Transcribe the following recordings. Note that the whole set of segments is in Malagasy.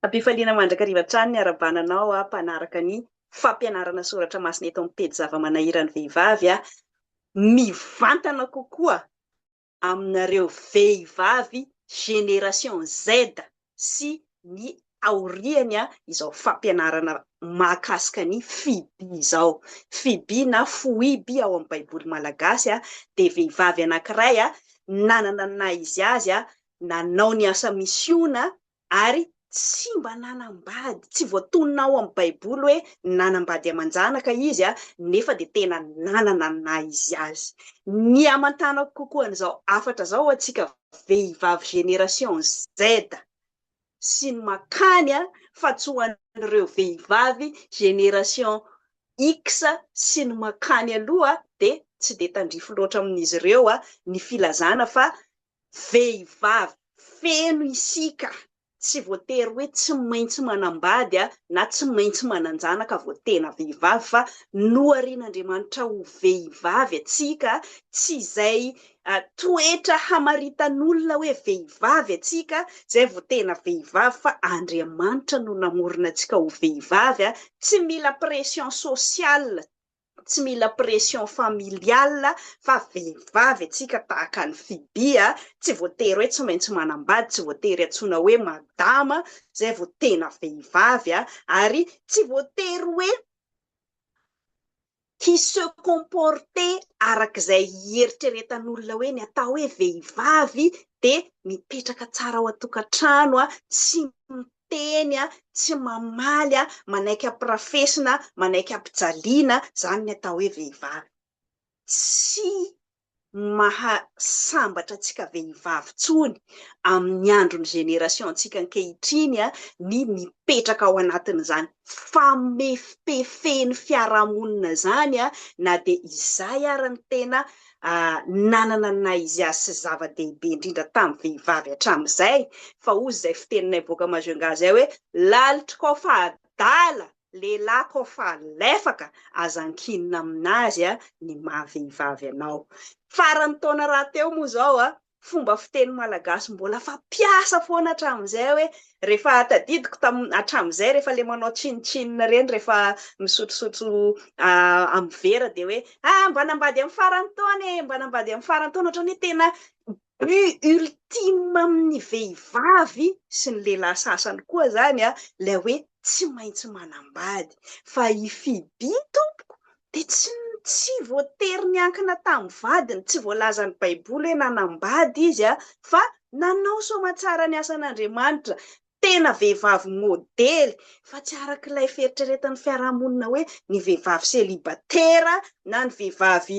Am-pifaliana mandrakariva hatrany ny arabana anao aho mpanaraka ny fampianarana soratra masina eto amin'ny pejy zava-manahiran'ny vehivavy aho. Mivantana kokoa aminareo vehivavy génération Z sy ny aoriany izao fampianarana mahakasika ny Fibi izao. Fibi na Foiby ao amin'ny Baiboly malagasy dia vehivavy anankiray nanana ny naha izy azy, nanao ny asa misiona ary tsy mba nanambady, tsy voatonona ao amin'ny Baiboly hoe nanambady aman-janaka izy nefa dia tena nanana ny naha izy azy. Ny hamantanako kokoa an'izao hafatra izao hoantsika vehivavy génération Z sy ny makany fa tsy ho an'ireo vehivavy génération X sy ny makany aloha dia tsy dia tandrify loatra amin'izy ireo ny filazana fa vehivavy feno isika Tsy voatery hoe tsy maintsy manambady na tsy maintsy manan-janaka vao tena vehivavy fa noharian'Andriamanitra ho vehivavy antsika, tsy izay toetra hamaritan'olona hoe vehivavy antsika izay vao tena vehivavy fa Andriamanitra no namorona antsika ho vehivavy, tsy mila pression sociale. tsy mila pression familiale fa vehivavy antsika tahaka an'i Fibi a, tsy voatery hoe tsy maintsy manambady, tsy voatery antsoina hoe madama zay vao tena vehivavy a, ary tsy voatery hoe hi se comporter arak'izay hieritreretan'olona hoe ny atao hoe vehivavy dia mipetraka tsara ao an-tokantrano a, tsy miteny tsy mamaly manaiky ampirafesina manaiky ampijaliana zany ny atao hoe vehivavy tsy maha sambatra antsika vehivavy tsony amin'ny andron'ny génération ntsika ankehitriny ny mipetraka ao anatin'izany famefipefen'ny fiarahamonina zany na dia izay ary ny tena nanana ny naha izy azy sy zava-dehibe indrindra tamin'ny vehivavy hatramin'izay, fa hozy izay fiteninay boaka Majunga izay hoe, Lalitro kô fa adala, lehilahy kô fa lefaka, aza ankinina amin'azy ny maha vehivavy anao. Faran'ny taona rahateo moa izao, fomba fiteny malagasy mbola fampiasa foana hatramin'izay hoe rehefa tadidiko tamin'ny hatramin'izay rehefa ilay manao chin chin ireny rehefa misotrosotro amin'ny vera dia hoe ah mba nambady amin'ny faran'ny taona e mba nambady amin'ny faran'ny taona ohatrany hoe tena but ultime amin'ny vehivavy sy ny lehilahy sasany koa izany an ilay hoe tsy maintsy manambady fa i Fibi tompoko Dia tsy tsy voatery niankina tamin'ny vadiny, tsy voalazan'ny Baiboly hoe nanambady izy a, fa nanao soamatsara ny asan'Andriamanitra, tena vehivavy modely, fa tsy araka ilay fieritreretan'ny fiarahamonina hoe ny vehivavy selibatera na ny vehivavy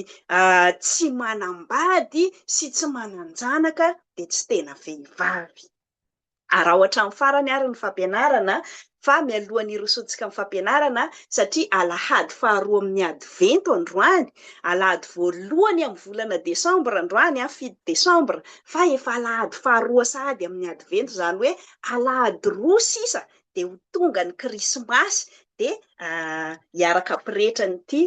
tsy manambady sy tsy manan-janaka dia tsy tena vehivavy. Araho hatramin'ny farany àry ny fampianarana fa mialoha ny hirosoantsika amin'ny fampianarana, satria alahady faharoa amin'ny Advento androany, alahady voalohany amin'ny volana desambra androany, fito desambra, fa efa alahady faharoa sahady amin'ny Advento, izany hoe alahady roa sisa dia ho tonga ny Krismasy, dia hiaraka pretra an'ity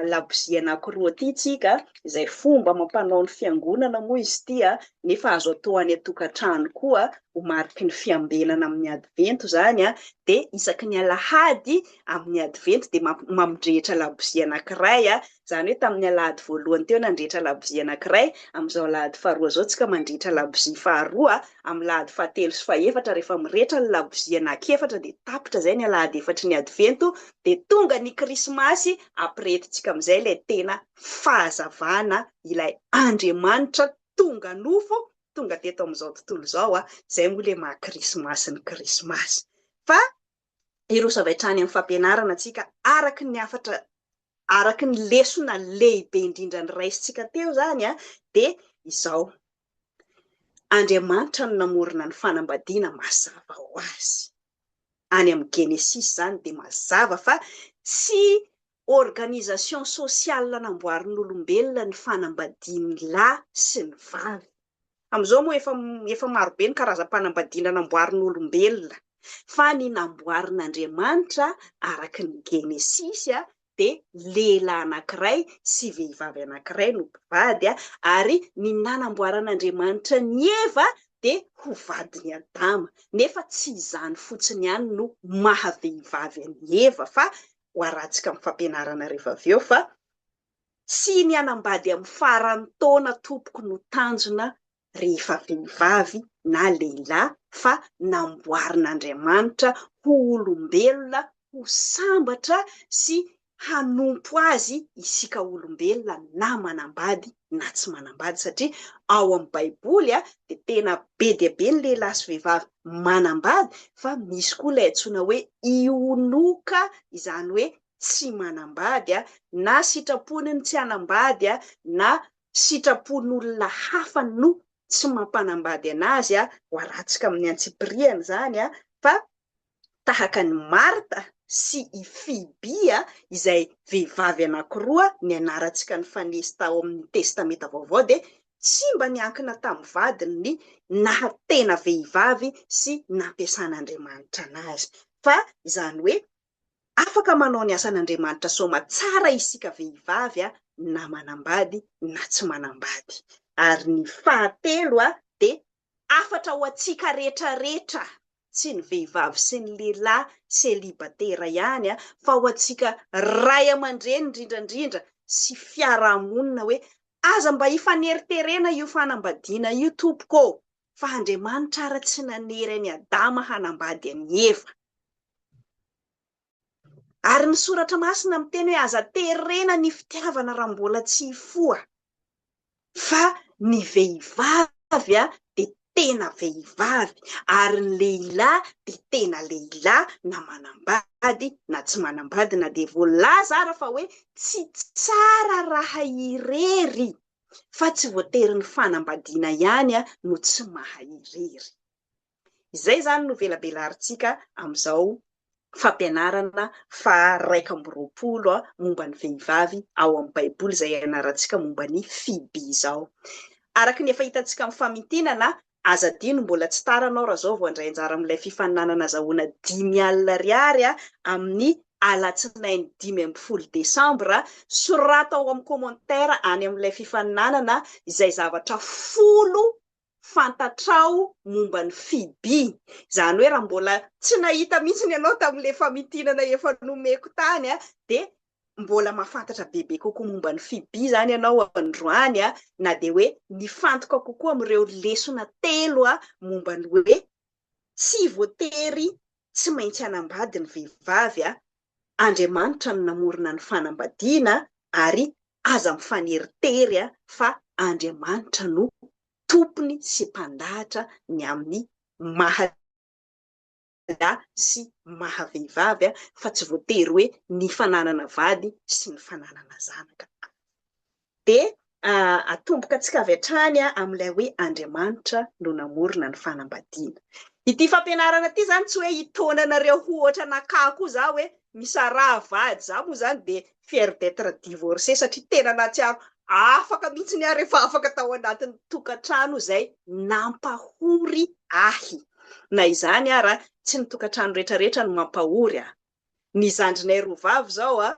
labozia anankiroa ity tsika, izay fomba amam-panao ny fiangonana moa izy ity, nefa azo atao any an-tokantrano koa, ho mariky ny fiambenana amin'ny advento izany, dia isaky ny alahady amin'ny advento dia mamdrehitra labozia anankiray, izany hoe tamin'ny alahady voalohany teo nandrehitra labozia anankiray, amin'izao alahady faharoa izao tsika mandrehitra labozia faharoa, amin'ny alahady fahatelo sy fahefatra rehefa mirehitra ny labozia anakefatra dia tapitra izay ny alahady efatry ny advento, dia tonga ny krismasy ampirehetintsika amin'izay ilay tena fahazavana ilay Andriamanitra tonga nofo tonga teto amin'izao tontolo izao a, izay moa ilay maha krismasy ny krismasy fa hiroso avy hatrany amin'ny fampianarana antsika araka ny hafatra araka ny lesona lehibe indrindra noraisintsika teo izany a dia izao Andriamanitra no namorona ny fanambadiana mazava ho azy. any amin'ny Genesisy izany dia mazava fa tsy organisation sociale namboarin'olombelona ny fanambadian'ny lahy sy ny vavy. Amin'izao moa efa efa maro be ny karazam-panambadiana namboarin'olombelona fa ny namboarin'Andriamanitra araka ny Genesisy dia lehilahy anankiray sy vehivavy anankiray no mpivady, ary ny nanamboaran'Andriamanitra an'i Eva dia ho vadin'i Adama. Nefa tsy izany fotsiny ihany no maha vehivavy an'i Eva, fa ho arantsika amin'ny fampianarana rehefa avy eo fa, Tsy ny hanambady amin'ny faran'ny taona, Tompoko, no tanjona rehefa vehivavy na lehilahy fa namboarin'Andriamanitra ho olombelona ho sambatra sy hanompo Azy isika olombelona na manambady na tsy manambady satria ao amin'ny baiboly dia tena be dia be ny lehilahy sy vehivavy manambady fa misy koa ilay antsoina hoe ionoka izany hoe tsy manambady na sitrapony ny tsy hanambady na sitrapon'olona hafa no tsy mampanambady anazy ho aratsaka amin'ny antsipiriany izany fa tahaka an'i Marta sy i Fiby izay vehivavy anankiroa ny anarantsika nifanesy tao amin'ny Testamenta Vaovao dia tsy mba niankina tamin'ny vadiny ny naha tena vehivavy sy nampiasan'Andriamanitra anazy fa izany hoe Afaka manao ny asan'Andriamanitra Soma tsara isika vehivavy na manambady na tsy manambady. Ary ny fahatelo dia hafatra ho antsika retraretra, tsy ny vehivavy sy ny lehilahy selibatera ihany fa ho antsika ray aman-dreny indrindra indrindra sy fiarahamonina hoe aza mba hifaneriterena io fanambadiana io tompoko ô! fa Andriamanitra ara tsy nanery an'i Adama hanambady an'i Eva. Ary ny soratra masina miteny hoe aza terena ny fitiavana raha mbola tsy hifoha, fa ny vehivavy dia tena vehivavy, ary ny lehilahy dia tena lehilahy na manambady na tsy manambady, na dia voalaza ara fa hoe tsy tsara raha irery fa tsy voatery ny fanambadiana ihany no tsy maha irery. Izay izany no velabelarintsika amin'izao fampianarana faha iraika amby roapolo momba ny vehivavy ao amin'ny Baiboly izay ianarantsika momba ny Fiby izao. Araka ny efa hitantsika amin'ny famintinana, Aza adino mbola tsy tara anao raha zao vao handray anjara amin'ilay fifaninanana azahoana dimy alina ariary amin'ny alatsinainy dimy ambin'ny folo desambra, soraty ao amin'ny commentaire any amin'ilay fifaninanana izay zavatra folo fantatrao momba an'i Fibi. Izany hoe raha mbola tsy nahita mihitsy ianao tamin'ilay famintinana efa nomeko tany dia mbola mahafantatra bebe kokoa momba ny FIB izany ianao androany, na dia hoe nifantoka kokoa amin'ireo lesona telo momba ny hoe tsy voatery tsy maintsy hanambady ny vehivavy, Andriamanitra no namorona ny fanambadiana ary aza mifaneritery fa Andriamanitra no tompony sy mpandahatra ny amin'ny maha lahy sy maha vehivavy fa tsy voatery hoe ny fananana vady sy ny fananana zanaka avy. Dia atombokantsika avy hatrany amin'ilay hoe Andriamanitra no namorona ny fanambadiana. Ity fampianarana ity izany tsy hoe hitaona anareo ho ohatra an'Akah koa za hoe misaraha vady za moa izany dia fière d'etre divorcée satria tena nahatsiaro afaka mihitsiny aho rehefa afaka tao anatin'ny tokantrano izay nampahory ahy. Na izany ara, tsy ny tokantrano rehetrarehetra no mampahory a. Ny zandrinay roa vavy izao a,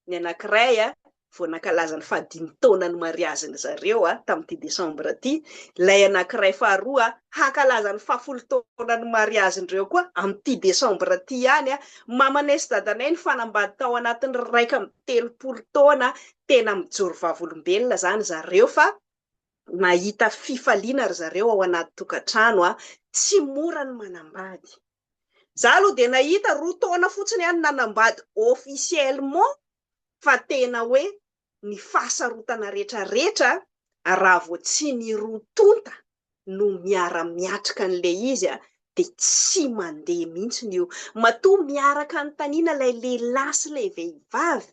ny anankiray a, vao nankalaza ny fahadimy taonan'ny mariazin'ny zareo a, tamin'ity desambra ity, ilay anankiray faharoa a, hankalaza ny fahafolo taonan'ny mariazin-dreo koa amin'ity desambra ity ihany a, Mamanay sy dadanay nifanambady tao anatin'ny iraika amby telopolo taona tena mijoro vavolombelona zany zareo fa nahita fifaliana ry zareo ao anaty tokantrano a! Tsy mora ny manambady. Za aloha dia nahita roa taona fotsiny ihany nanambady officiellement fa tena hoe ny fahasarotana retraretra raha vao tsy ny roa tonta no miara miatrika an'ilay izy dia tsy mandeha mihitsiny io. Matoa miaraka anontaniana ilay lehilahy sy ilay vehivavy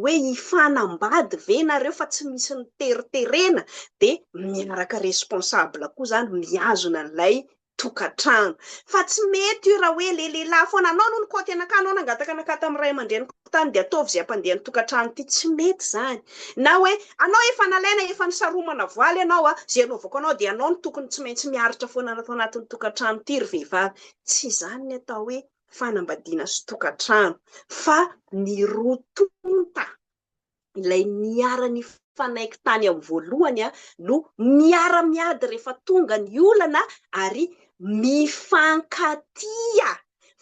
hoe hifanambady ve nareo fa tsy misy niteriterena dia miaraka responsable koa zany mihazona an'ilay tokantrano. Fa tsy mety io raha hoe ilay lehilahy foana, anao aloha nikaoty anakahy, anao nangataka anakahy tamin'ny ray aman-dreniko tany dia ataovy izay hampandeha ny tokantrano ity, tsy mety izany. Na hoe anao efa nalaina, efa nisaromana voaly ianao, izay anaovako anao dia ianao no tokony tsy maintsy miaritra foana ato anatin'ny tokantrano ity ry vehivavy. Tsy izany ny atao hoe fanambadiana sy tokantrano fa ny roa tonta ilay niara-nifanaiky tany amin'ny voalohany no miara-miady rehefa tonga ny olana ary mifankatia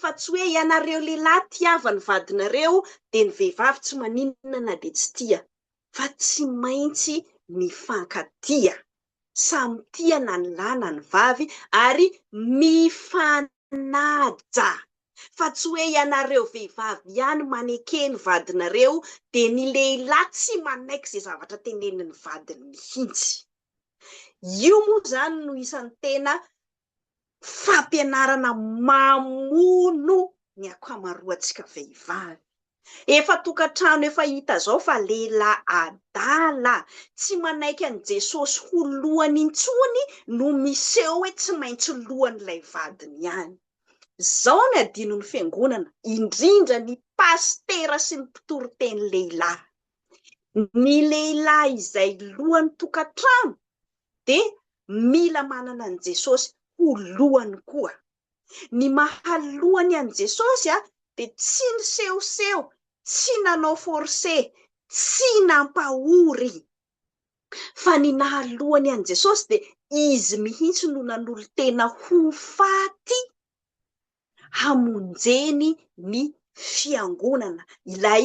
fa tsy hoe ianareo lehilahy tiava ny vadinareo dia ny vehivavy tsy maninona na dia tsy tia fa tsy maintsy mifankatia. samy tia na ny lahy na ny vavy ary mifanaja fa tsy hoe ianareo vehivavy ihany maneke ny vadinareo dia ny lehilahy tsy manaiky izay zavatra tenenin'ny vadiny mihitsy. Io moa izany no isan'ny tena fampianarana mamono ny akamaroantsika vehivavy. Efa tokantrano efa hita zao fa lehilahy adala tsy manaiky an'i Jesosy ho lohany intsony no miseho hoe tsy maintsy lohan'ilay vadiny ihany. Zao ny adinon'ny fiangonana, indrindra ny pasitera sy ny mpitoriteny lehilahy. Ny lehilahy izay lohan'ny tokantrano dia mila manana an'i Jesosy ho lohany koa. Ny maha lohany an'i Jesosy dia tsy nisehoseho, tsy nanao force, tsy nampahory, fa ny naha lohany an'i Jesosy dia Izy mihitsy no nanolo-tena ho faty hamonjeny ny Fiangonana, ilay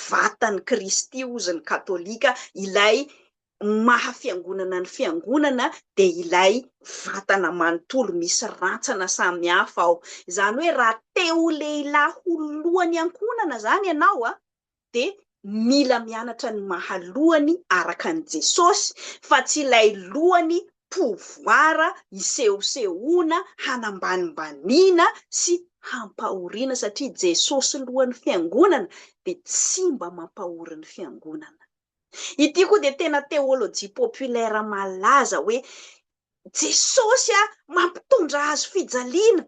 vatan'i Kristy hozy ny Katolika, ilay maha Fiangonana ny Fiangonana dia ilay vatana manontolo misy rantsana samy hafa ao. Izany hoe raha te ho lehilahy ho lohan'ny ankohonana izany ianao, dia mila mianatra ny maha lohany araka an'i Jesosy fa tsy ilay lohany pouvoir hisehosehoana, hanambanimbaniana sy hampahoriana satria Jesosy lohan'ny fiangonana dia tsy mba mampahory ny fiangonana. Ity koa dia tena théologie populaire malaza hoe Jesosy a, mampitondra hazo fijaliana.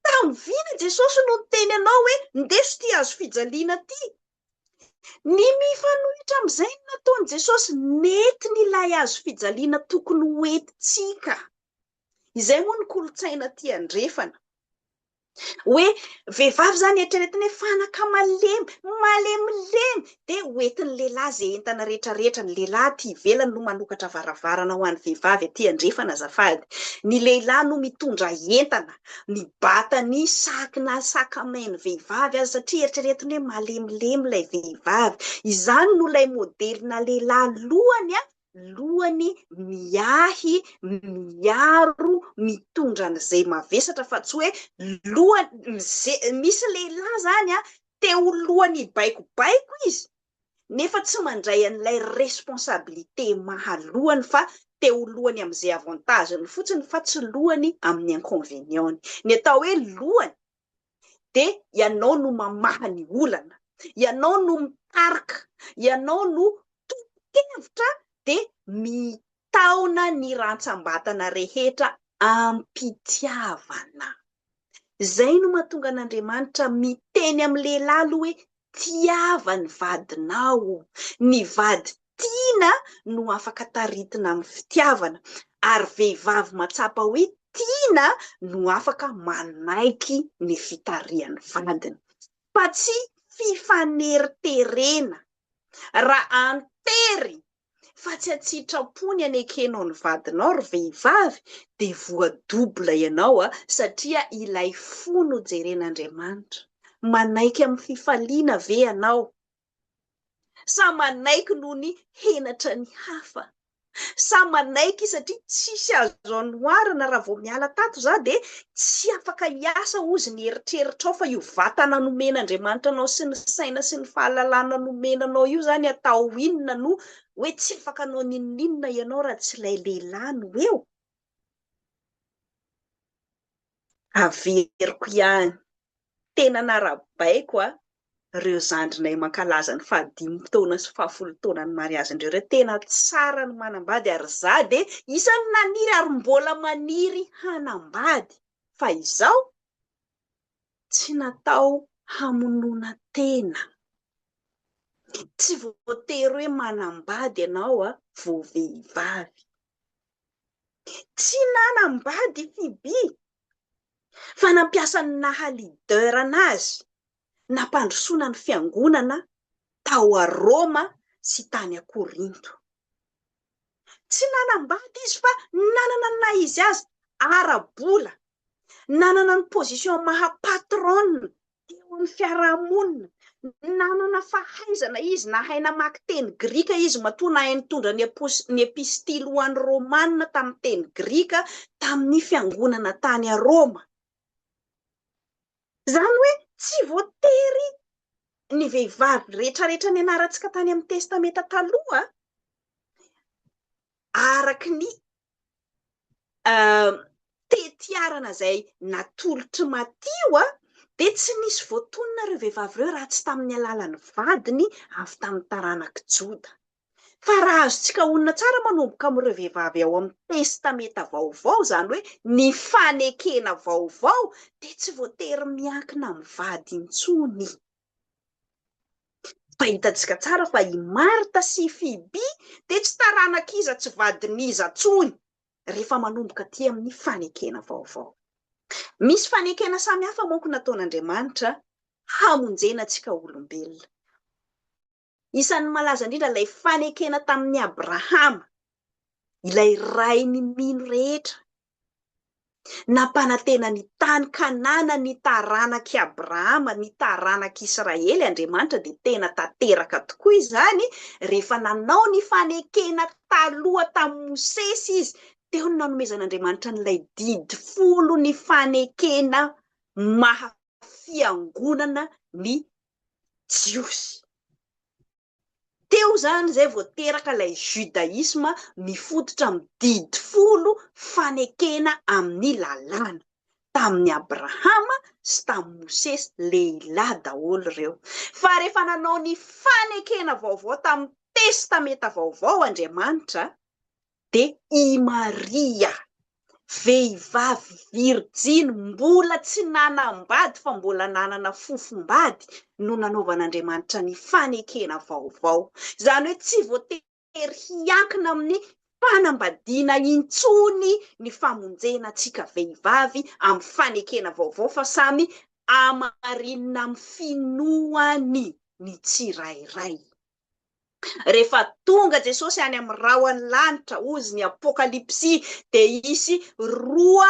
Tamin'ny vina Jesosy no niteny anao hoe ndeso ity hazo fijaliana ity. Ny mifanohitra amin'izay ny nataon'i Jesosy, nentiny ilay hazo fijaliana tokony ho entintsika. Izay moa ny kolontsaina aty andrefana. Hoe vehivavy izany eritreretina hoe fanaka malemy, malemilemy, dia ho entin'ny lehilahy izay entana rehetra rehetra, ny lehilahy aty ivelany no manokatra varavarana ho an'ny vehivavy aty andrefana azafady, ny lehilahy no mitondra entana, ny batany sac na sac à main ny vehivavy aza satria eritreretiny hoe malemilemy ilay vehivavy, izany no ilay modelina lehilahy lohany an! lohany miahy, miaro, mitondra an'izay mavesatra fa tsy hoe lohany, misy lehilahy zany a, te ho lohany hibaikobaiko izy nefa tsy mandray an'ilay responsabilité maha lohany fa te ho lohany amin'izay avantage-ny fotsiny fa tsy lohany amin'ny inconvénient-ny. Ny atao hoe lohany dia ianao no mamaha ny olana, ianao no mitarika, ianao no tompon-kevitra dia mitaona ny rantsambatana rehetra am-pitiavana. Izay no mahatonga an'Andriamanitra miteny amin'ny lehilahy aloha hoe Tiava ny vadinao. Ny vady tiana no afaka taritina amin'ny fitiavana, ary vehivavy matsapa hoe tiana no afaka manaiky ny fitarihan'ny vadiny. Fa tsy fifaneriterena. Raha an-tery fa tsy an-tsitrapo ny anekenao ny vadinao ry vehivavy dia voa double ianao a! satria ilay fo no jeren'Andriamanitra, manaiky amin'ny fifaliana ve ianao sa manaiky noho ny henatra ny hafa? sa manaiky satria tsisy azo anoharana raha vao miala tato za dia Tsy afaka hiasa hozy ny eritreritrao fa io vatana nomen'Andriamanitra anao sy ny saina sy ny fahalalana nomena anao io izany atao inona no hoe tsy afaka hanao n'inon'inona ianao raha tsy ilay lehilahy no eo? Averiko ihany, tena narabaiko a! reo zandrinay mankalaza ny faha dimy taona sy faha folo taona ny mariazy ndreo reo tena tsara ny manambady ary za de isany naniry ary mbola maniry hanambady fa izao tsy natao hamonona tena tsy voatery hoe manambady ianao a vo vehivavy tsy nanambady fibi fa nampiasa ny naha leader anazy nampandrosoana ny fiangonana tao a Roma sy tany a Korinto. Tsy nanambady izy fa nanana ny naha izy azy ara-bola, nanana ny position maha patronne teo amin'ny fiarahamonina. Nanana fahaizana izy, nahay namaky teny grika izy, matoa nahay nitondra ny eposy, ny epistily ho an'ny Romana tamin'ny teny grika tamin'ny fiangonana tany à Roma. Izany hoe tsy voatery ny vehivavy rehetrarehetra nianarantsika tany amin'ny Testamenta Taloha, araka ny tetiarana izay natolotry Matio dia tsy nisy voatonona ireo vehivavy ireo raha tsy tamin'ny alalan'ny vadiny avy tamin'ny taranak'i Joda. Fa raha azontsika honina tsara manomboka amin'ireo vehivavy ao amin'ny Testamenta Vaovao, izany hoe ny fanekena vaovao, dia tsy voatery miankina amin'ny vady intsony. Fa hitantsika tsara fa i Marta sy i Fiby dia tsy taranak'iza tsy vadin'iza intsony rehefa manomboka aty amin'ny fanekena vaovao. Misy fanekena samihafa manko nataon'Andriamanitra hamonjena antsika olombelona. Isan'ny malaza indrindra ilay fanekena tamin'i Abrahama, ilay rain'ny mino rehetra. Nampanantena ny tany Kanana ny taranak'i Abrahama, ny taranak'i Israely, Andriamanitra dia tena tanteraka tokoa izany rehefa nanao ny fanekena taloha tamin'i Mosesy izy, teo no nanomezan'Andriamanitra an'ilay didy folo ny fanekena maha fiangonana ny Jiosy. Teo izany izay vao teraka ilay judaisme mifototra amin'ny didy folo fanekena amin'ny lalàna. Tamin'i Abrahama sy tamin'i Mosesy, lehilahy daholo ireo. Fa rehefa nanao ny fanekena vaovao tamin'ny testamenta vaovao Andriamanitra, Dia i Maria, vehivavy virjiny mbola tsy nanambady fa mbola nanana fofom-bady no nanaovan'Andriamanitra ny fanekena vaovao. Izany hoe tsy voatery hiankina amin'ny fanambadiana intsony ny famonjena antsika vehivavy amin'ny fanekena vaovao fa samy hamarinina amin'ny finoany ny tsirairay. Rehefa tonga Jesosy any amin'ny rahon'ny lanitra, hozy ny Apokalypsy, dia hisy roa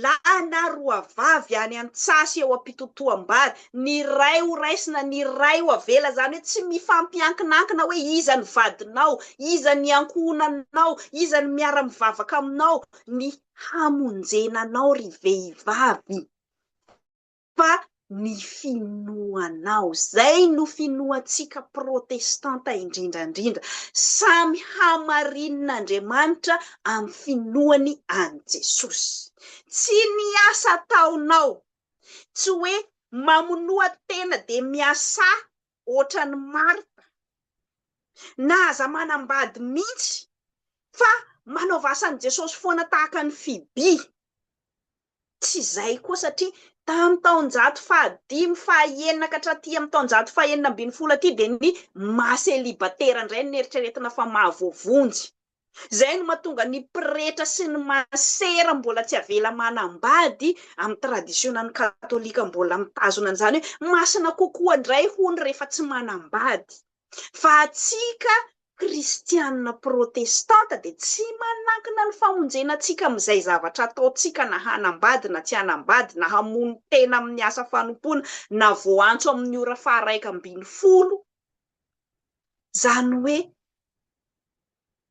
lahy na roa vavy any an-tsasy eo am-pitotoam-bary. Ny iray ho raisina, ny iray ho avela. Izany hoe tsy mifampiankinankina hoe iza ny vadinao, iza ny ankohonanao, iza ny miara-mivavaka aminao, ny hamonjena anao ry vehivavy. fa ny finoanao. Izay no finoantsika protestanta indrindra indrindra. Samy hamarinin'A ndriamanitra amin'ny finoany an'i Jesosy. Tsy ny asa ataonao, tsy hoe mamonoa tena dia miasà ohatran'i Marta, na aza manambady mihitsy, fa manaova asan'i Jesosy foana tahaka ny Fibi. Tsy izay koa satria tamin'ny taonjato fahadimy, fahaenina ka hatraty amin'ny taonjato fahenina ambin'ny folo aty dia ny maha selibatera indray no neritreretina fa maha voavonjy. Izay no mahatonga ny pretra sy ny masera mbola tsy avela manambady amin'ny tradisionan'ny katolika mbola mitazona an'izany hoe masina kokoa indray hono rehefa tsy manambady. Fa antsika kristiana protestanta dia tsy manankina ny famonjena antsika amin'izay zavatra ataontsika na hanambady na tsy hanambady, na hamono tena amin'ny asa fanompoana, na voaantso amin'ny ora faharaika ambin'ny folo, izany hoe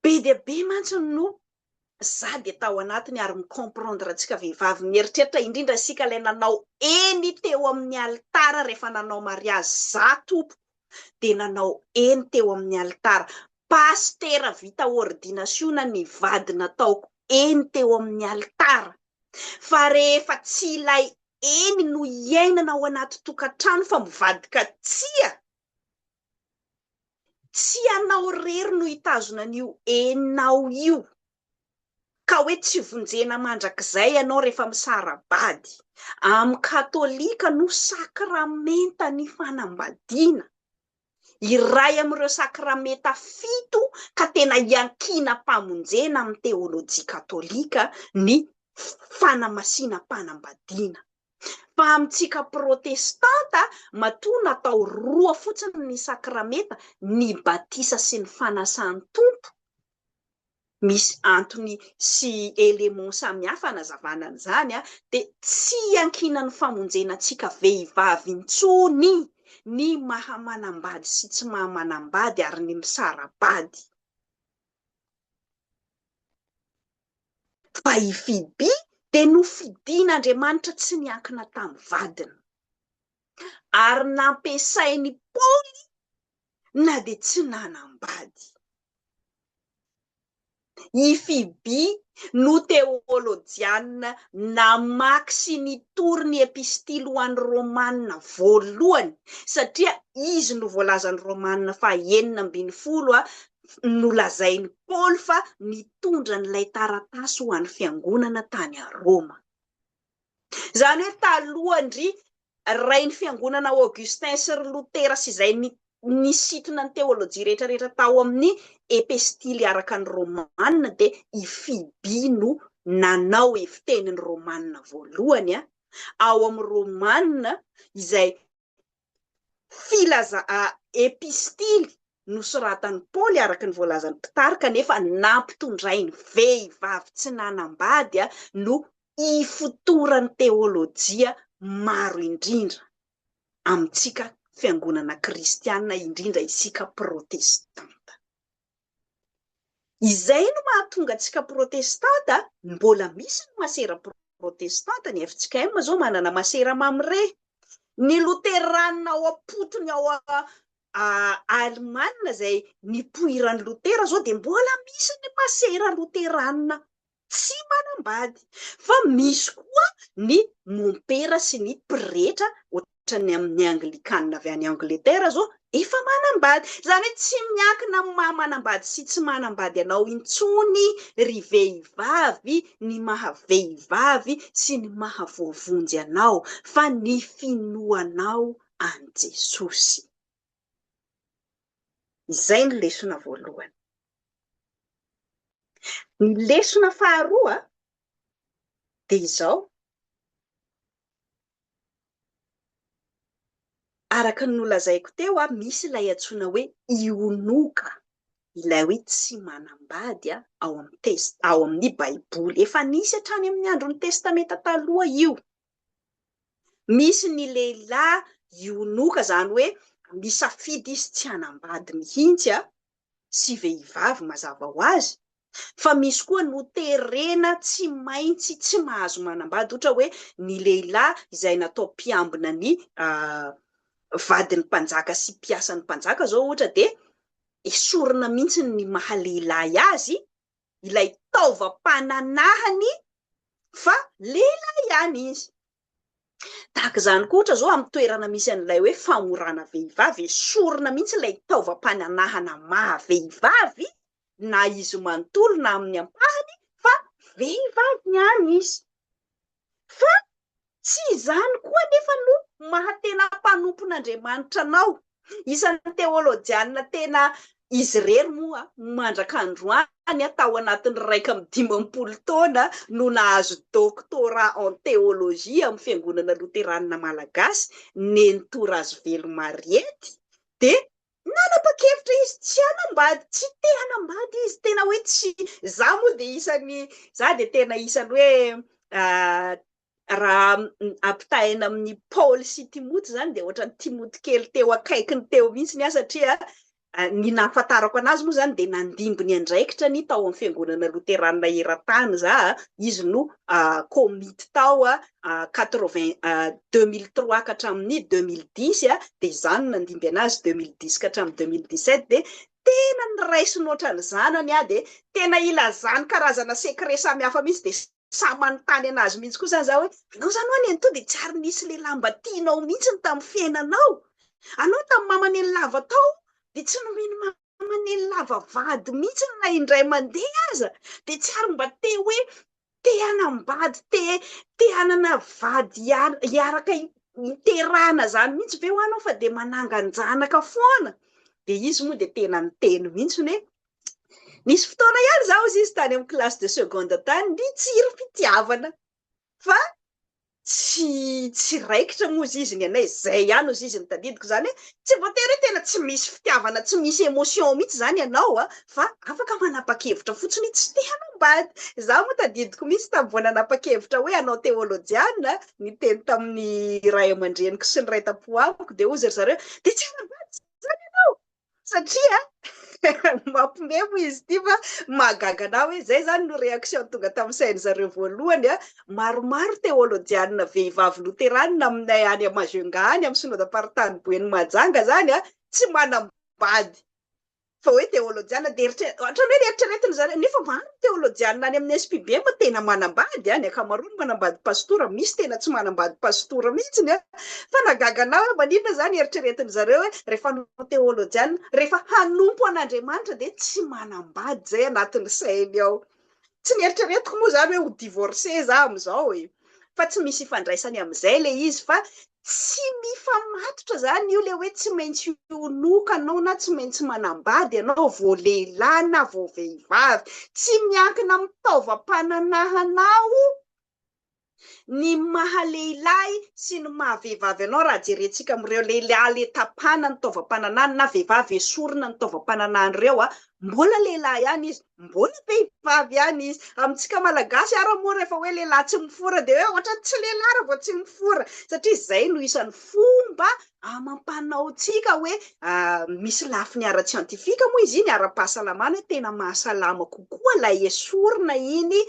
Be dia be mantsy no za dia tao anatiny ary mi comprendre antsika vehivavy mieritreritra indrindra isika ilay nanao eny teo amin'ny alitara rehefa nanao mariazy za tompoko dia nanao eny teo amin'ny alitara pasitera vita ordinasiona ny vady nataoko eny teo amin'ny alitara fa rehefa tsy ilay eny no iainana ao anaty tokantrano fa mivadika tsia tsy ianao irery no hitazona an'io eninao io ka hoe tsy vonjena mandrakizay ianao rehefa misara-bady. Amin'ny katolika no sakramentan'ny fanambadiana, iray amin'ireo sakramenta fito ka tena iankinam-pamonjena amin'ny teolojia katolika ny fanamasinam-panambadiana. Fa amintsika protestanta, matoa natao roa fotsiny ny sakramenta, ny batisa sy ny fanasan'ny Tompo, misy antony sy éléments samihafa anazavana an'izany, dia tsy iankinan'ny famonjena antsika vehivavy intsony ny maha manambady sy tsy maha manambady ary ny misara-bady. Fa i Fibi dia nofidin'Andriamanitra tsy niankina tamin'ny vadiny. Ary nampiasain'i Paoly na dia tsy nanambady. I Fibi no teolojiana namaky sy nitory ny Epistily ho an'ny Romana voalohany, satria izy no voalazan'ny Romana faha enina ambin'ny folo nolazain'i Paoly fa nitondra an'ilay taratasy ho an'ny fiangonana tany Roma. Izany hoe talohan-dry Rain'ny fiangonana Augustin sy ry Lotera sy izay nisintona ny teolojia rehetrarehetra tao amin'ny Epistily araka ny Romanina dia i Fiby no nanao evi-tenin'ny Romanina voalohany ao amin'ny Romanina izay filaza a epistily nosoratan'i Paoly araka ny voalazan'ny mpitarika nefa nampitondrainy vehivavy tsy nanambady a no ifotoran'ny teolojia maro indrindra amintsika fiangonana kristiana indrindra isika protestanta. Izay no mahatonga antsika protestanta mbola misy ny masera protestanta, ny fjkm zao manana masera mamre, ny loteranina ao ampotony ao Alemana izay nipoiran'i Lotera zao dia mbola misy ny masera loteranina tsy manambady fa misy koa ny mompera sy ny pretra ohatran'ny amin'ny anglikana avy any Angleterre zao efa manambady izany hoe tsy miankina amin'ny maha manambady sy tsy manambady anao intsony ry vehivavy ny maha vehivavy sy ny maha voavonjy anao fa ny finoanao an'i Jesosy. Izay ny lesona voalohany. Ny lesona faharoa dia izao, araka ny nolazaiko teo, misy ilay antsoina hoe ionoka, ilay hoe tsy manambady ao amin'ny Baiboly. Efa nisy hatrany amin'ny andron'ny Testamenta Taloha io. Misy ny lehilahy ionoka, izany hoe misafidy izy tsy hanambady mihitsy a, sy vehivavy mazava ho azy, fa misy koa noterena tsy maintsy tsy mahazo manambady, ohatra hoe ny lehilahy izay natao mpiambina ny vadin'ny mpanjaka sy mpiasan'ny mpanjaka izao ohatra dia esorina mihitsy ny maha lehilahy azy ilay taovam-pananahany fa lehilahy ihany izy. Tahaka izany koa ohatra izao amin'ny toerana misy an'ilay hoe famorana vehivavy, esorina mihitsy ilay taovam-pananahana maha vehivavy na izy manontolo na amin'ny ampahany fa vehivavy ihany izy. Fa tsy izany koa anefa no maha-tena mpanompon'Andriamanitra anao. Isan'ny teolojiana tena izy irery moa mandraka androany, tao anatin'ny iraika amby dimampolo taona no nahazo doctorat en théologie amin'ny Fiangonana Loteranina Malagasy, Nenitorazivelo Mariette, dia Nanapa-kevitra izy tsy hanambady, tsy te hanambady izy, tena hoe tsy, za moa dia isan'ny, za dia tena isan'ny hoe raha ampitahaina amin'ny Paoly sy Timoty izany dia ohatran'ny Timoty kely teo akaikiny teo mihitsy ny ahy satria ny nahafantarako anazy moa izany dia nandimby ny andraikitra ny tao amin'ny fiangonana loteranina eran-tany za, izy no komity tao quatre vingt deux mille trois ka hatramin'ny deux mille dix dia izaho no nandimby an'azy deux mille dix ka hatramin'ny deux mille dix sept dia tena noraisiny ohatran'ny zanany aho dia tena ilazany karazana secret samihafa mihitsy dia samy manontany an'azy mihitsy koa izany izaho hoe anao izany ho'a nenitoa dia tsy ary nisy lehilahy mba tianao mihitsy ny tamin'ny fiainanao anao tamin'ny maman'i lava tao dia tsy nomeny Fa manely lava vady mihitsy na indray mandeha aza dia tsy ary mba te hoe te hanambady, te te hanana vady hiaraka hiterahana izany mihitsy ve ho anao fa dia manangan-janaka foana? Dia izy moa dia tena niteny mihitsy hoe nisy fotoana ihany izaho hozy izy tany amin'ny classe de seconde tany, nitsiry fitiavana. fa tsy tsy raikitra moa izy ny anay zay ihany ozy izy ny tadidiko zany hoe tsy voatery hoe tena tsy misy fitiavana tsy misy emotion mihitsy zany ianao a fa afaka manapa-kevitra fotsiny tsy te hanambady za moa tadidiko mihitsy tamin'ny vao nanapa-kevitra hoe hanao teolojiana niteny tamin'ny ray aman-dreniko sy ny ray tam-po amiko de ozy ry zareo de tsy hanambady zany ianao satria mampime moa izy ity fa mahagaga anah hoe zay zany no réaction tonga tamin'ny sain-dry zareo voalohany a maromaro teolojianina vehivavy loteranina aminay any Majunga any amin'ny synodam-paritany Boeny Mahajanga zany a tsy manam-bady fa hoe teolojianina dia eritre- ohatran'ny hoe eritreretin-dry zareo nefa marina Ny teolojianina any amin'ny SPB moa tena manambady a, ny ankamaroany manambady pasitora, misy tena tsy manambady pasitora mihitsiny a! Fa nahagaga anah hoe maninona izany eritreretin-dry zareo hoe rehefa hanao teolojianina, rehefa hanompo an'Andriamanitra dia tsy manambady izay anatin'ny sainy ao. Tsy neritreretiko moa izany hoe ho divorcé za amin'izao e! fa tsy misy ifandraisany amin'izay ilay izy fa tsy mifamatotra izany io ilay hoe tsy maintsy honoka anao na tsy maintsy manambady ianao vao lehilahy na vao vehivavy tsy miankina amin'ny taovam-pananahanao ny maha lehilahy sy ny maha vehivavy anao raha jerentsika amin'ireo lehilahy le tapana ny taovam-pananahany na vehivavy esorina ny taovam-pananahan'ireo a mbola lehilahy ihany izy Mbola vehivavy ihany izy. Amintsika Malagasy ara moa rehefa hoe lehilahy tsy mifora dia hoe ohatrany tsy lehilahy raha vao tsy mifora satria izay no isan'ny fomba amam-panaontsika hoe misy lafiny ara-tsiantifika moa izy iny, ara-pahasalamana hoe tena mahasalama kokoa ilay esorina iny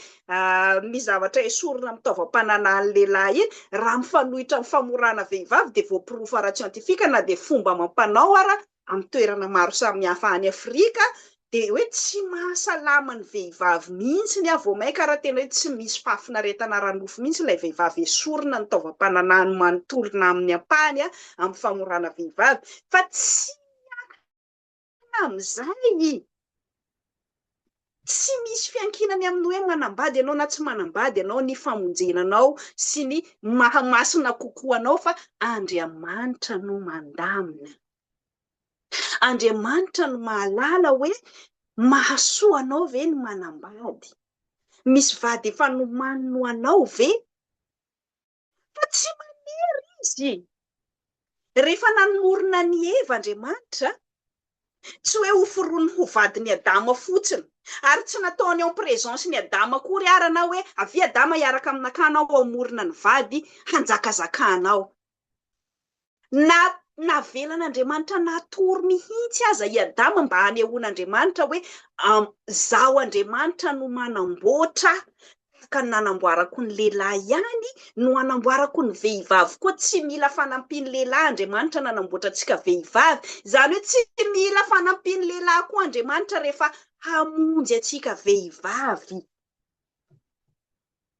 ny zavatra esorina amin'ny taovam-pananan'ny lehilahy iny raha mifanohitra amin'ny famorana vehivavy dia voaporofo ara-tsiantifika na dia fomba amam-panao ara amin'ny toerana maro samihafa any Afrika dia hoe tsy mahasalama ny vehivavy mihitsy ny vao mainka ary tena hoe tsy misy fahafinaretana ara-nofo mihitsy ilay vehivavy esorina ny taovam-pananahany manontolona amin'ny ampahany amin'ny famorana vehivavy fa tsy miankina amin'izay Tsy misy fiankinany amin'ny hoe manambady ianao na tsy manambady ianao ny famonjena anao sy ny maha masina kokoa anao fa Andriamanitra no mandamina. Andriamanitra no mahalala hoe mahasoa anao ve ny manambady. Misy vady efa nomaniny ho anao ve? Fa tsy manery izy. Rehefa nanorina an'i Eva Andriamanitra, tsy hoe hoforoniny ho vadin'i Adama fotsiny, ary tsy nataony en présence n'i Adama akory ara na hoe avia Adama hiaraka aminakahy anao hamorona ny vady hanjakazakanao. Na navelan'Andriamanitra natory mihitsy aza i Adama mba hanehoan'Andriamanitra hoe Izaho Andriamanitra no manamboatra, tahaka ny nanamboarako ny lehilahy ihany no hanamboarako ny vehivavy koa. Tsy mila fanampian'ny lehilahy Andriamanitra nanamboatra antsika vehivavy. Izany hoe tsy mila fanampian'ny lehilahy koa Andriamanitra rehefa hamonjy antsika vehivavy.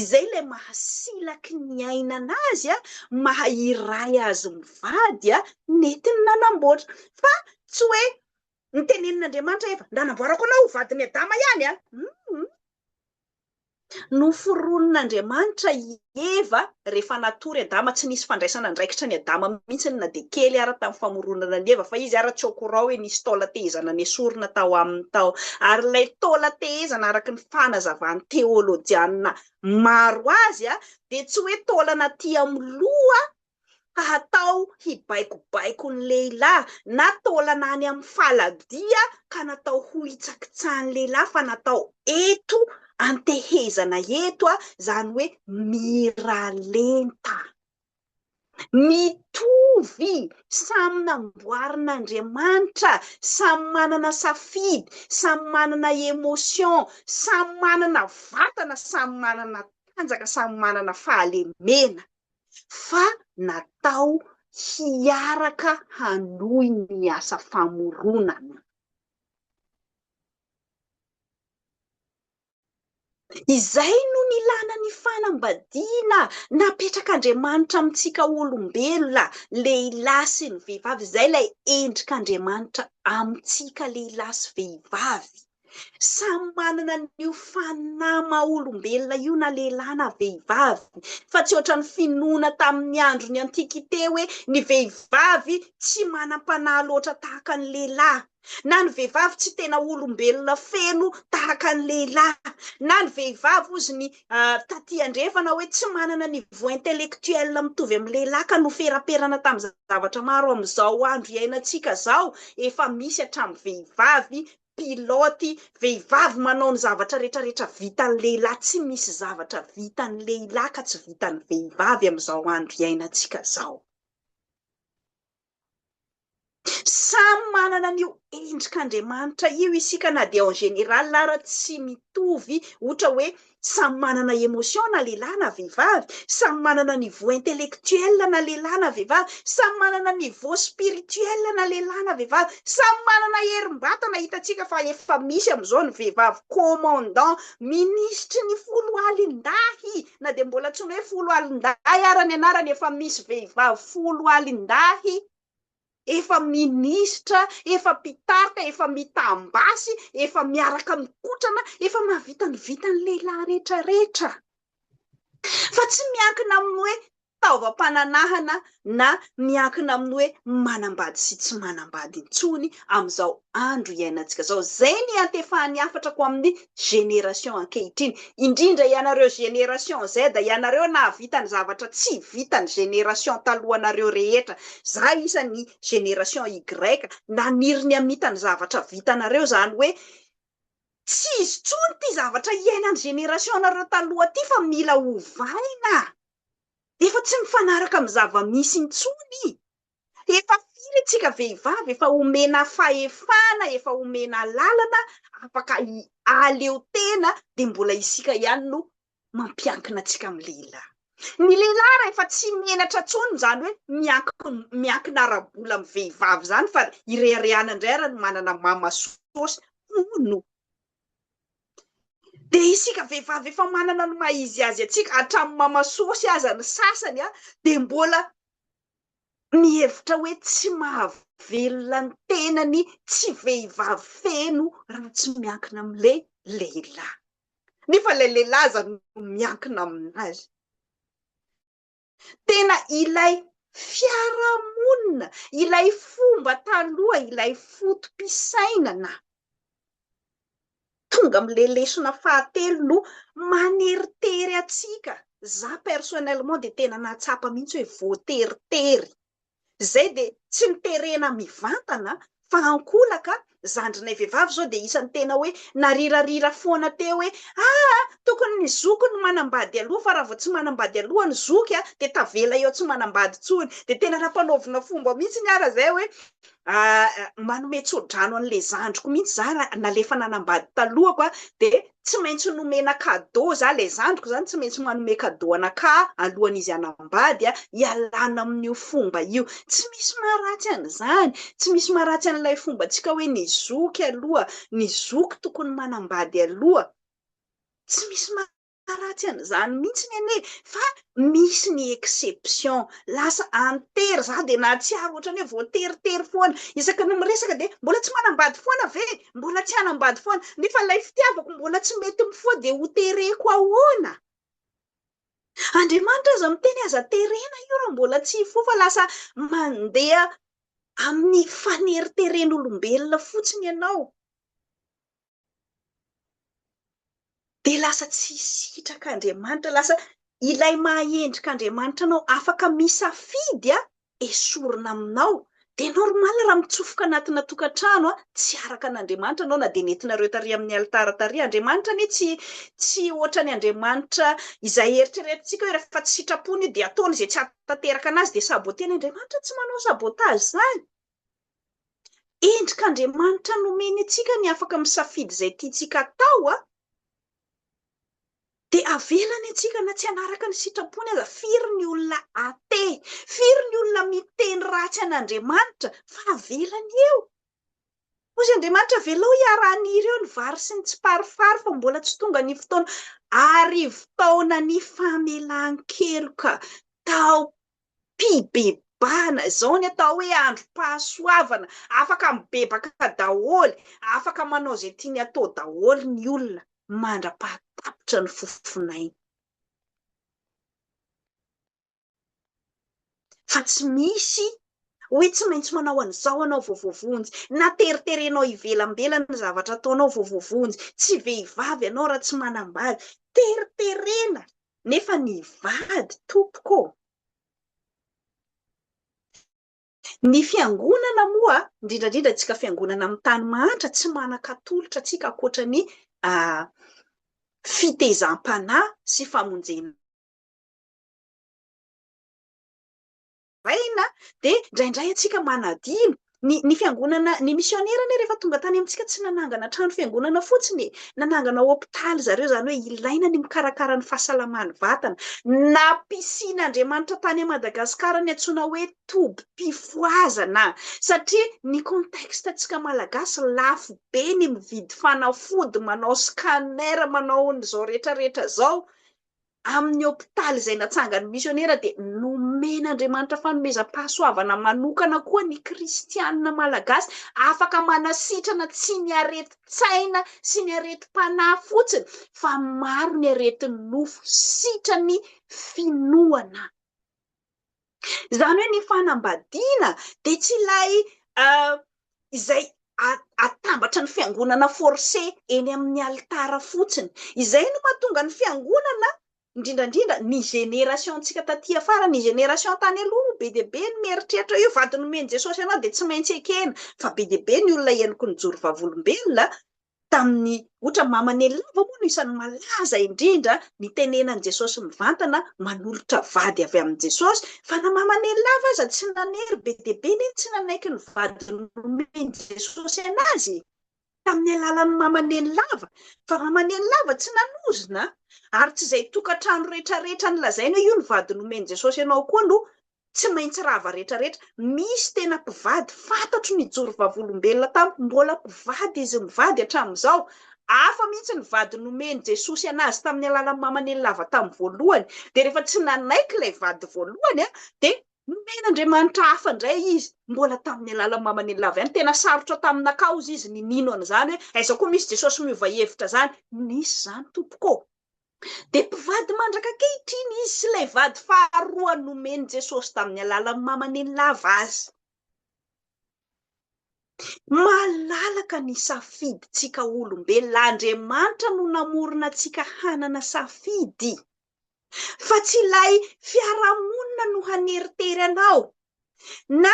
Izay ilay mahasilaky ny aina anazy, maha iray azy mivady, nety ny nanamboatra. Fa tsy hoe nitenenin'Andriamanitra Eva, nanamboarako anao ho vadin'i Adama ihany a! Hum! Noforonin'Andriamanitra i Eva rehefa natory Adama, tsy nisy fandraisana andraikitra an'i Adama mihitsy na dia kely ara tamin'ny famoronana an'i Eva, fa izy ara tsy au courant hoe nisy taolan-tehezana nesorina tao aminy tao. Ary ilay taolan-tehezana araka ny fanazavan'ny teolojiana maro azy dia tsy hoe taolana aty amin'ny loha ka hatao hibaikobaiko ny lehilahy na taolana any amin'ny faladia ka natao hohitsakitsahan'ny lehilahy fa natao eto antehezana eto izany hoe miralenta. Mitovy, samy namboarin'Andriamanitra, samy manana safidy, samy manana emotion, samy manana vatana, samy manana tanjaka, samy manana fahalemena, fa natao hiaraka hanohy ny asa famoronana. Izay no nilana ny fanambadiana napetrak'Andriamanitra amintsika olombelona lehilahy sy ny vehivavy, izay ilay endrik'Andriamanitra amintsika lehilahy sy vehivavy. Samy manana an'io fanahy maha olombelona io na lehilahy na vehivavy, fa tsy ohatran'ny finoana tamin'ny andron'ny antikite hoe ny vehivavy tsy manam-panahy loatra tahaka ny lehilahy. na ny vehivavy tsy tena olombelona feno tahaka ny lehilahy, na ny vehivavy ozy ny taty andrefana hoe tsy manana niveau intellectuel mitovy amin'ny lehilahy ka noferaperana tamin'ny zavatra maro amin'izao andro iainantsika izao efa misy hatramin'ny vehivavy pilote, vehivavy manao ny zavatra retraretra vitan'ny lehilahy, tsy misy zavatra vitan'ny lehilahy ka tsy vitan'ny vehivavy amin'izao andro iainantsika izao. Samy manana an'io endrik'Andriamanitra io isika na dia en général ara tsy mitovy ohatra hoe samy manana émotion na lehilahy na vehivavy, samy manana niveau intellectuel na lehilahy na vehivavy, samy manana niveau spirituel na lehilahy na vehivavy, samy manana herim-batana, hitantsika fa efa misy amin'izao ny vehivavy commandant, minisitry ny foloalindahy, na dia mbola tsy ny hoe folo alindahy ara ny anarany efa misy vehivavy folo alindahy efa minisitra, efa mpitarika, efa mitam-basy, efa miaraka mikotrana, efa mahavita ny vitan'ny lehilahy rehetrarehetra. Fa tsy miankina amin'ny hoe taovam-pananahana na miankina amin'ny hoe manambady sy tsy manambady intsony amin'izao andro iainantsika izao. Izay ny iantefahan'ny hafatra ko amin'ny génération ankehitriny. Indrindra ianareo génération Z, ianareo nahavita ny zavatra tsy vitan'ny génération talohanareo rehetra. Za isan'ny génération Y, naniry ny hamita ny zavatra vitanareo, izany hoe tsy izy intsony ity zavatra iainan'ny génération-nareo taloha ity fa mila ovaina. Efa tsy mifanaraka amin'ny zava-misy intsony. Efa firy isika vehivavy efa omena fahefana, efa omena lalana afaka ahaleo tena dia mbola isika ihany no mampiankina antsika amin'ny lehilahy. Ny lehilahy rehefa tsy menatra intsony izany hoe miankina ara-bola amin'ny vehivavy izany fa ireharehana indray ary ny manana mama sosy, hono. Dia isika vehivavy efa manana ny maha izy azy antsika, hatramin'ny mama sôsy aza ny sasany an, dia mbola mihevitra hoe tsy mahavelona ny tenany tsy vehivavy feno raha tsy miankina amin'ilay lehilahy. Nefa ilay lehilahy aza no miankina amin'azy. Tena ilay fiarahamonina, ilay fomba taloha, ilay foto-pisainana. Tonga amin'ilay lesona fahatelo no maneritery antsika. Za personnellement dia tena nahatsapa mihitsy hoe voateritery. izay dia tsy niterena mivantana fa ankolaka zandrinay vehivavy izao dia isany tena hoe narirarira foana teo hoe aa tokony ny zoky no manambady aloha fa raha vao tsy manambady aloha ny zoky a dia tavela eo tsy manambady intsony dia tena nampanaovina fomba mihitsy ny ara zay hoe manome tsodrano an'ilay zandriko mihitsy za raha nalefa nanambady talohako a dia tsy maintsy nomena cadeau za le zandriko zany tsy maintsy manome cadeau anakah alohan'izy hanambady a, ialana amin'io fomba io, tsy misy maharatsy an'izany, tsy misy maharatsy an'ilay fombantsika hoe ny zoky aloha, ny zoky tokony manambady aloha, tsy misy maharatsy an'izany mihitsiny anie fa misy ny exception, lasa an-tery, za dia nahatsiaro ohatran'ny hoe voateritery foana, isaky ny miresaka dia mbola tsy manambady foana ve? mbola tsy hanambady foana, nefa ilay fitiavako mbola tsy mety mifoha dia ho tereko ahoana? Andriamanitra aza miteny aza terena io raha mbola tsy hifoha fa lasa mandeha amin'ny faneriteren'olombelona fotsiny ianao. Dia lasa tsy sitraka Andriamanitra, lasa ilay maha-endrika Andriamanitra anao, afaka misafidy an, esorina aminao. Dia normal raha mitsofoka anatina tokantrano an, tsy araka an'Andriamanitra anao na dia nentinareo tary amin'ny alitara tary. Andriamanitra anie tsy tsy ohatran'ny Andriamanitra izay eritreretintsika hoe rehefa tsy sitrapony io dia ataony izay tsy hahatanteraka anazy dia saboter-ny. Andriamanitra tsy manao sabotage izany. Endrik'Andriamanitra nomeny antsika ny afaka misafidy izay tiantsika hatao, dia avelany antsika na tsy hanaraka ny sitrapony aza. Firy ny olona athée, firy ny olona miteny ratsy an'Andriamanitra fa avelany eo. Hoy Andriamanitra, avelao hiara-haniry eo ny vary sy ny tsiparifary fa mbola tsy tonga ny fotoana. Arivo taonan'ny famelan-keloka tao mpibebahana, izao ny atao hoe androm-pahasoavana, afaka mibebaka daholo, afaka manao izay tiany atao daholo ny olona mandra-pahatapitra ny fofon'ainy. Fa tsy misy hoe tsy maintsy manao an'izao anao vao voavonjy, na teriterenao ivelambelany ny zavatra ataonao vao voavonjy, tsy vehivavy ianao raha tsy manambady, teriterena Nefa ny vady tompoko ô! Ny fiangonana moa, indrindra indrindra antsika fiangonana amin'ny tany mahantra, tsy manan-katolotra antsika ankoatra ny fitezam-panahy sy famonjena maraina dia indraindray antsika manadino. Ny ny fiangonana, ny misionera anie rehefa tonga tany amintsika tsy nanangana trano fiangonana fotsiny e, nanangana hopitaly zareo izany hoe ilaina ny mikarakara ny fahasalaman'ny vatana. Nampisin'Andriamanitra tany Madagasikara ny antsoina hoe tobim-pifohazana satria ny contexte antsika malagasy lafo be ny mividy fanafody, manao scanner, manao an'izao rehetra rehetra izao, Amin'ny hopitaly izay natsangan'ny misionera dia nomen'Andriamanitra fanomezam-pahasoavana manokana koa ny kristiana malagasy, afaka manasitrana tsy ny aretin-tsaina sy ny aretim-panahy fotsiny fa maro ny aretin'ny nofo sitran'ny finoana. Izany hoe ny fanambadiana dia tsy ilay izay atambatra ny fiangonana forcé eny amin'ny alitara fotsiny. Izay no mahatonga ny fiangonana, indrindra indrindra ny génération-ntsika taty afara, ny génération tany aloha no be dia be no mieritreritra hoe io vady nomen'i Jesosy anao dia tsy maintsy ekena, fa be dia be ny olona henoko nijoro vavolombelona, tamin'ny ohatra mama ny lava moa no isan'ny malaza indrindra ny tenenan'i Jesosy mivantana manolotra vady avy amin'i Jesosy fa na mama ny lava aza tsy nanery be dia be nefa tsy nanaiky ny vady nomen'i Jesosy anazy tamin'ny alalan'ny mama ny lava fa mama ny lava tsy nanozona ary tsy izay tokantrano rehetra rehetra ny lazaina io ny vady nomen'i Jesosy anao koa no tsy maintsy rava retraretra, misy tena mpivady fantatro nijoro vavolombelona tamiko, mbola mpivady izy mivady hatramin'izao, hafa mihitsy ny vady nomen'i Jesosy anazy tamin'ny alalan'ny maman'ely lava tamin'ny voalohany, dia rehefa tsy nanaiky ilay vady voalohany an, dia nomen'Andriamanitra hafa indray izy, mbola tamin'ny alalan'ny maman'ely lava ihany, tena sarotra taminakaozy izy ny nino an'izany hoe aiza koa misy Jesosy miova hevitra izany, nisy izany tompoko ô! Dia mpivady mandraka ankehitriny izy sy ilay vady faharoa nomen'i Jesosy tamin'ny alalan'ny mamaniny lava azy. Malalaka ny safidintsika olombelona. Andriamanitra no namorona antsika hanana safidy, fa tsy ilay fiarahamonina no haneritery anao na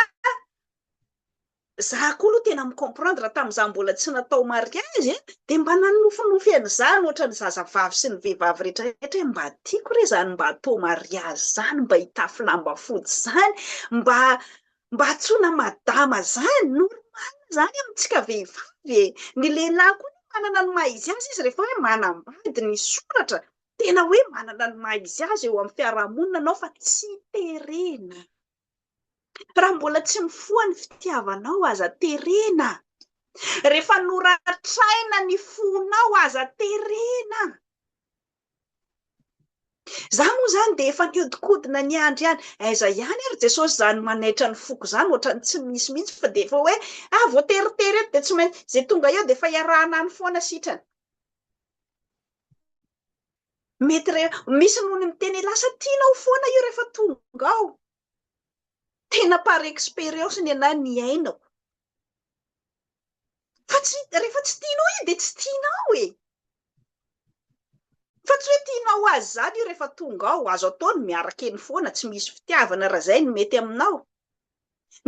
Za koa lo tena mi-comprendre tam za mbola tsy natao mariage eh de mba nanofinofy an'izany ohatran'ny zazavavy sy ny vehivavy retraretra hoe mba tiako re zany mba atao mariage zany mba hitafy lamba fotsy zany mba mba antsoina madama zany normal zany amintsika vehivavy eh ny lehilahy koa aloha manana ny maha izy azy izy rehefa hoe manambady ny soratra tena hoe manana ny maha izy azy eo amin'ny fiarahamonina anao fa tsy terena. Raha mbola tsy mifoha ny fitiavanao, aza terena. Rehefa noratraina ny fonao, aza terena. Za moa izany dia efa nihodinkodina niandry ihany, aiza ihany ary Jesosy izany manaitra ny foko izany, ohatran'ny tsy misy mihitsy fa dia efa hoe ah, vao teritery eto dia tsy maintsy, izay tonga eo dia efa iarahana any foana sitrany. Mety re, misy nony miteny hoe lasa tianao foana io rehefa tonga ao. Tena par expérience ny anah niainako. Fa tsy, rehefa tsy tianao izy dia tsy tianao e! Fa tsy hoe tianao azy izany io rehefa tonga ao, azo atao ny miaraka eny foana, tsy misy fitiavana raha izay no mety aminao.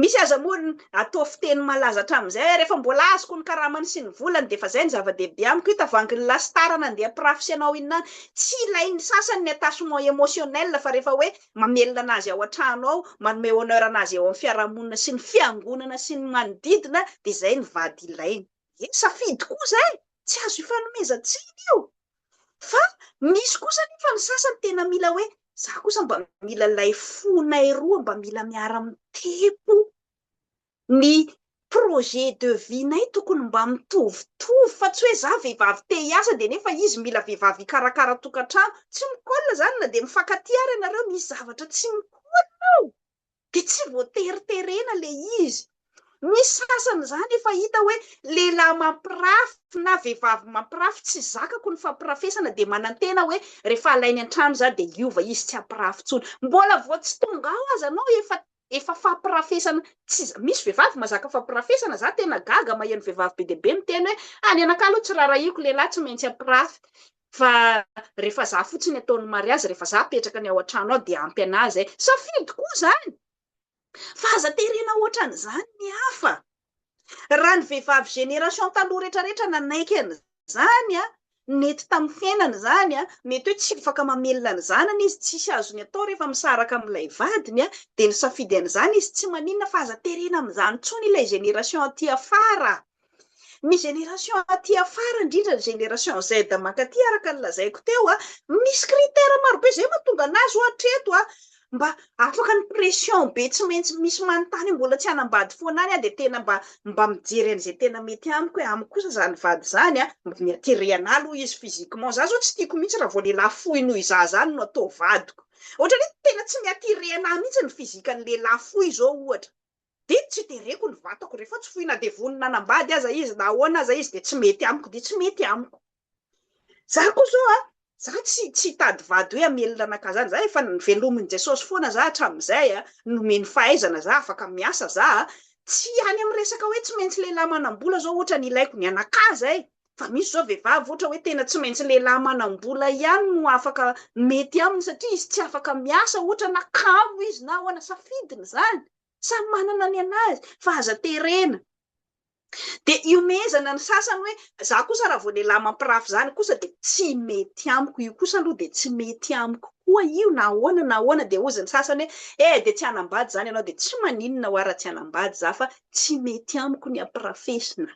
Misy aza moa ny atao fiteny malaza hatramin'izay hoe rehefa mbola azoko ny karamany sy ny volany dia efa izay ny zava-dehibe amiko, io tavangin'ny lasitara nandeha mpirafy sy anao inona any. Tsy ilain'ny sasany ny attachement émotionnel fa rehefa hoe mamelona anazy ao an-trano ao, manome honneur anazy eo amin'ny fiarahamonina sy ny fiangonana sy ny manodidina dia izay ny vady ilaina. Dia safidy koa izay, tsy azo ifanomezan-tsiny io. Fa misy kosa anefa ny sasany tena mila hoe, izaho kosa mba mila ilay fonay roa mba mila miara-mitepo, ny projet de vie-nay tokony mba mitovitovy, fa tsy hoe izaho vehivavy te hiasa dia nefa izy mila vehivavy hikarakara tokantrano. Tsy mi-colle izany na dia mifankatia ary ianareo, misy zavatra tsy mi-colle ao. dia tsy voatery terena ilay izy. Misy sasany izany efa hita hoe lehilahy mampirafy na vehivavy mampirafy, tsy zakako ny fampirafesana, dia manantena hoe rehefa alainy an-trano izaho dia hiova izy tsy hampirafy intsony. Mbola vao tsy tonga ao aza anao efa efa fampirafesana, tsy za, misy vehivavy mazaka fampirafesana, za tena gaga maheno vehivavy be dia be miteny hoe, ah ny anakahy aloha tsy raharahiako, lehilahy tsy maintsy hampirafy. fa rehefa za fotsiny ataony mariazy rehefa za apetraka ny ao an-trano ao dia ampy anahy zay safidy koa zany fa aza terena ohatran'izany ny hafa raha ny vehivavy génération taloha retraretra nanaiky an'izany a nety tamin'ny fiainana izany a mety hoe tsy afaka mamelona ny zanany izy tsisy azony atao rehefa misaraka amin'ilay vadiny a dia ny safidy an'izany izy tsy maninona fa aza terena amin'izany tsony ilay génération aty afara Ny génération aty afara indrindra ny génération Z mankaty araka ny lazaiko teo a, misy critère maro be zay mahatonga anazy ho atreto a, mba afaka ny pression be tsy maintsy misy manontany hoe mbola tsy hanambady foana any aho dia tena mba mba mijery an'izay tena mety amiko hoe amiko kosa zany vady zany a mba ny attirer anahy aloha izy physiquement, za zao tsy tiako mihitsy raha vao lehilahy fohy noho izaho zany no atao vadiko, ohatra hoe tena tsy mi-attirer anahy mihitsy ny physique an'ny lehilahy fohy zao ohatra. Dia tsy tereko ny vatako, rehefa tsy fohina dia vonona hanambady aza izy na ahoana aza izy dia tsy mety amiko dia tsy mety amiko. Za koa zao a, za tsy tsy hitady vady hoe hamelona anakazana, za efa velomin'i Jesosy foana za hatramin'izay a, nomeny fahaizana za, afaka miasa za a, tsy any amin'ny resaka hoe tsy maintsy lehilahy manam-bola zao ohatra ny ilaiko ny anakahy zay, fa misy zao vehivavy ohatra hoe tena tsy maintsy lehilahy manam-bola ihany no afaka mety aminy satria izy tsy afaka miasa ohatra na kamo izy na ahoana, safidiny zany. Samy manana ny anazy fa aza terena. Dia iomehezana ny sasany hoe za kosa raha vao lehilahy mampirafy zany kosa dia tsy mety amiko io kosa aloha dia tsy mety amiko koa io na ahoana na ahoana dia hozy ny sasany hoe eh dia tsy hanambady zany ianao dia tsy maninona hoa raha tsy hanambady za fa tsy mety amiko ny ampirafesina.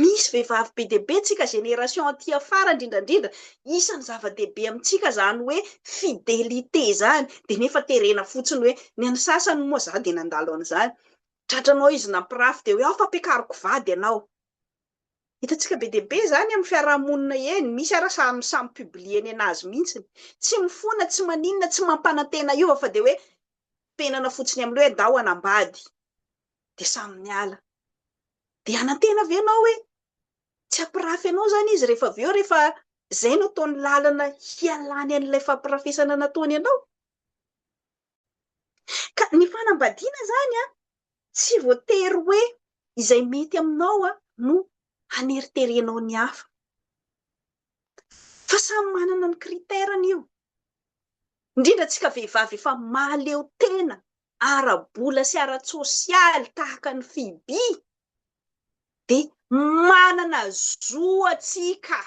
Misy vehivavy be dia be tsika génération aty afara indrindra indrindra isany zava dehibe amintsika zany hoe fidelité zany de nefa terena fotsiny hoe ny an'ny sasany moa za de nandalo an'izany tratranao izy nampirafy de hoe ao fa ampiakariko vady ianao hitantsika be dia be zany amin'ny fiarahamonina eny misy ara samy samy publie ny anazy mintsiny tsy mifona tsy maninona tsy mampanantena hiova fa de hoe penana fotsiny amin'ny hoe ndao hanambady dia samy niala. Dia hanantena ve ianao hoe tsy hampirafy anao izany izy rehefa avy eo, rehefa izay no ataony lalana hialany an'ilay fampirafesana nataony anao? Ka ny fanambadiana izany an, tsy voatery hoe izay mety aminao an, no haneriterenao ny hafa. Fa samy manana ny critère-ny io. Indrindra antsika vehivavy efa mahaleo tena ara-bola sy ara-tsosialy tahaka ny FIBI dia manana zo antsika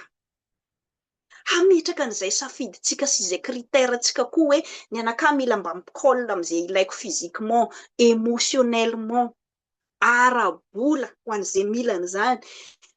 hametraka an'izay safidintsika sy izay critère ntsika koa hoe ny anakahy mila mba mi-colle amin'izay ilaiko physiquement, émotionnellement, ara-bola ho an'izay mila an'izany.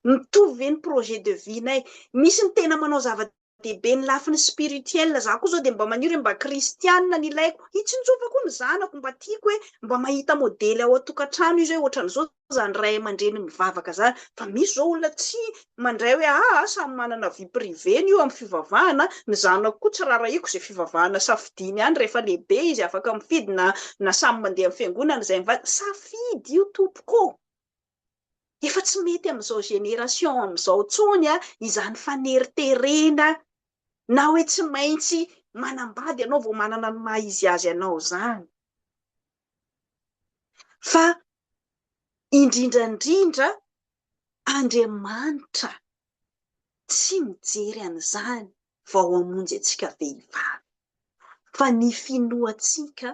Mitovy ve ny projet de vie-nay? Misy ny tena manao zavatra dia be ny lafiny spirituel za koa zao dia mba maniry hoe mba kristianina no ilaiko hitsinjovako koa ny zanako mba tiako hoe mba mahita modely ao an-tokantrano izy hoe ohatran'izao zany ray aman-dreny mivavaka zany fa misy zao olona tsy mandray hoe aa samy manana vie privée-ny io amin'ny fivavahana ny zanako koa tsy rarahiko izay fivavahana safidiany any rehefa lehibe izy afaka mifidy na na samy mandeha amin'ny fiangonana izay mivady safidy io tompoko ô Efa tsy mety amin'izao génération amin'izao intsony izany faneriterena na hoe tsy maintsy manambady ianao vao manana ny maha izy azy anao izany. Fa indrindra indrindra Andriamanitra tsy mijery an'izany vao hamonjy antsika vehivavy fa ny finoantsika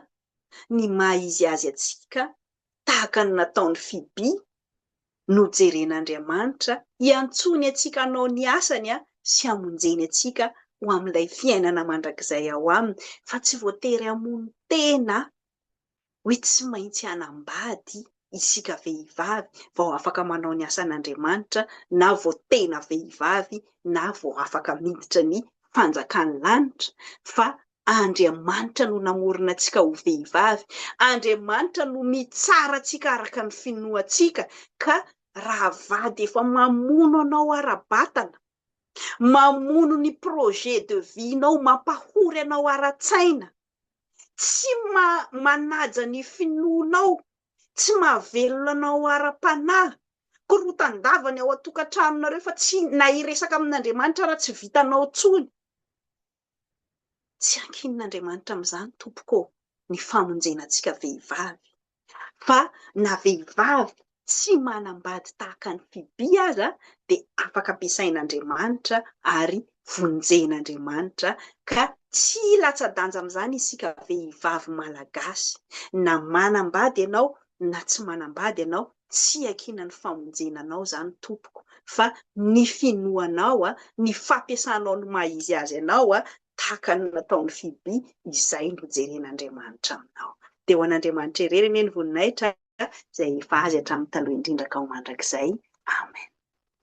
ny maha izy azy antsika tahaka ny nataon'i Fibi, nojeren'Andriamanitra hiantsoany antsika hanao ny asany sy hamonjeny antsika ho amin'ilay fiainana mandrakizay ao aminy, fa tsy voatery hamono tena hoe tsy maintsy hanambady isika vehivavy vao afaka manao ny asan'Andriamanitra na vao tena vehivavy na vao afaka miditra ny fanjakan'ny lanitra, fa Andriamanitra no namorona antsika ho vehivavy. Andriamanitra no mitsara antsika araka ny finoantsika. Ka raha vady efa mamono anao ara-batana, mamono ny projet de vie-nao, mampahory anao ara-tsaina, tsy manaja ny finoanao, tsy mahavelona anao ara-panahy, korotan-davany ao an-tokantranonareo fa tsy na hiresaka amin'Andriamanitra ara tsy vitanao intsony. Tsy ankinin'Andriamanitra amin'izany tompoko ô ny famonjena antsika vehivavy, fa na vehivavy tsy manambady tahaka an'i Fibi aza dia afaka ampiasain'Andriamanitra ary vonjen'Andriamanitra ka tsy latsa-danja amin'izany isika vehivavy malagasy na manambady ianao na tsy manambady ianao tsy iankiana ny famonjena anao izany tompoko fa ny finoanao ny fampiasanao ny maha izy azy anao tahaka ny nataon'i Fiby izay no jeren'Andriamanitra aminao dia ho an'Andriamanitra irery anie ny voninahitra izay efa azy hatramin'ny taloha indrindra ka ho mandrakizay amen.